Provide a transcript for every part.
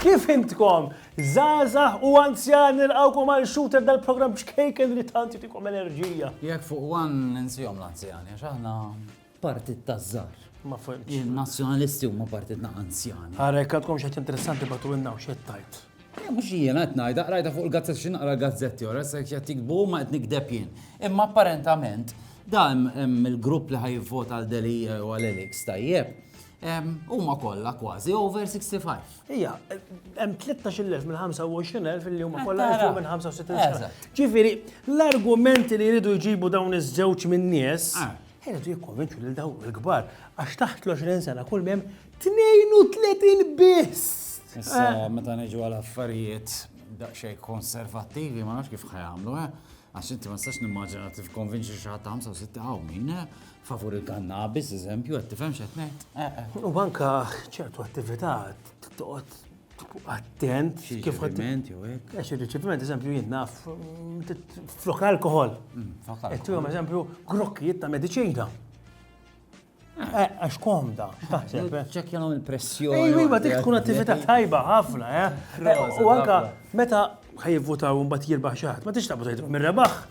Kif intkom? Zazah u anzjan nilqawkom għal shooter dal-program bċkejken li tant jitikom enerġija. Jek fuq għan nizjom l-anzjani, għax aħna Partit taż-żgħar. Ma fhimtx. Il-Nazzjonalisti huma partit na' anzjani. Ara jekk għadkom xi ħaġa interessanti bagħtulna u x'qed tgħid. Eh, mhux jiena qed ngħidha, qrajtha fuq il-gazzetti xi naqra l-gazzetti ora se qed jikbu ma qed nikdeb jien. Imma apparentament da hemm il-grupp li ħajvota għal Delija u għal Elix tajjeb. em, Huma kollha kważi over 65. Ija, hemm 13,000 minn 25,000 li huma kollha Tara. fuq minn 65 sena. Eżatt. Ġifieri, l-argumenti li jridu jġibu dawn iż-żewġ min-nies Ah. Iridu jikkonvinċu lil dawk il-kbar għax taħt l-20 sena kull m'hemm 32 biss! Issa eh. meta niġu għal affarijiet daqsxejn konservattivi ma nafx kif ħajamlu, eh? għax inti ma stax nimmaġina tif konvinċi xi ħadd 65 hawn min eh? favur il-kannabis, eżempju, qed tifhem x'qed ngħid. U anka ċertu attività toqgħod attent. Xi riċeviment jew hekk? Eh, xi riċeviment, eżempju, jien naf flok alkohol. Mm, Qed jom eżempju grokkijiet ta' mediċina. Ah. Eh, għax komda, x'taħseb? Eh? Ċekja nagħmel pressjoni. Ej, iva, dik tkun attività tajba ħafna, eh? U anka meta ħajvutaw mbagħad jirbaħ xi ħadd, ma tix taqbad tgħidhom mir-rebaħ.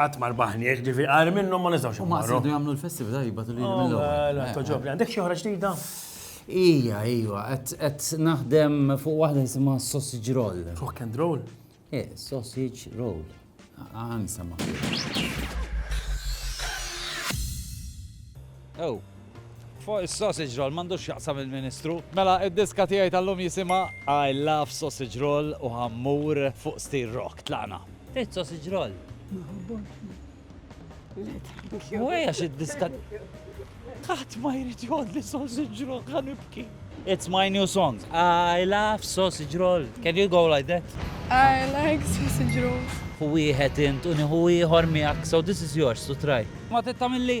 Qatt ma rbaħniex, ġifi għar minnhom ma nistgħux. U ma jridu jagħmlu l-festività jibgħatu lili mill-ewwel. Oh, Toġobni, għandek xi oħra ġdida? Ija, ija, qed naħdem fuq waħda jisimha sausage roll. Rock and roll? Eh, sausage roll. Għan sama. Ew. Fuq is-sausage roll m'għandux x'jaqsam il-Ministru. Mela, id-diska tiegħi tal-lum jisimha I love sausage roll u ħa mmur fuq stil rock. Tlaqna. Tgħid sausage roll? Ma ħobbhomx jien. Le tgħidux jew. Mhuwiex għax id-diska Qatt ma jrid jgħodli sausage roll, ħa nibki. It's my new song. I love sausage roll. Can you go like that? I like sausage rolls. Ħu wieħed int u nieħu ieħor miegħek, so this is yours to try. Ma tittamilli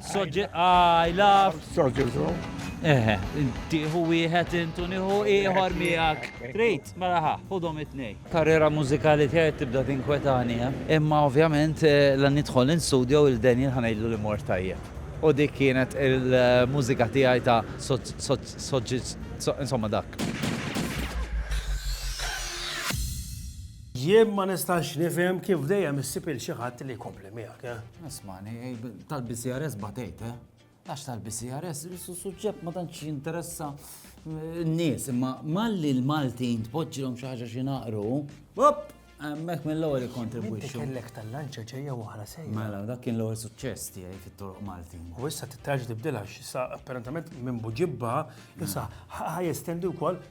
Soġġet, I love. Soġġetu. Eħe, tiħu wieħed intu nieħu ieħor miegħek. Trid, mela ħa, ħudhom it-tnej. Karriera mużikali tiegħi tibda tinkwetani, eh? imma ovvjament eh, la nidħol in studio il Daniel ħanejlu li mor tajjeb. U dik kienet il-mużika tiegħi ta' soġġit, insomma dak. Jien ma nistax nifhem kif dejjem issib il xi ħadd li jkompli miegħek. Eh? Ismani, tal-BCRS batejt, eh? Għax tal-BCRS, suġġett ma tantx jinteressa eh, n-nies, imma malli l-Maltin tpoġġilhom xi ħaġa xi naqru, hop, hemmhekk mill-ewwel ikkontribwixxu. Kellek tal-lanċa ġejja oħra sejja. Mela, dak kien l-ewwel suċċess tiegħi fit-toroq Maltin. U issa titraġ tibdilha x'issa apparentament minn buġibba, issa ħaj estendi wkoll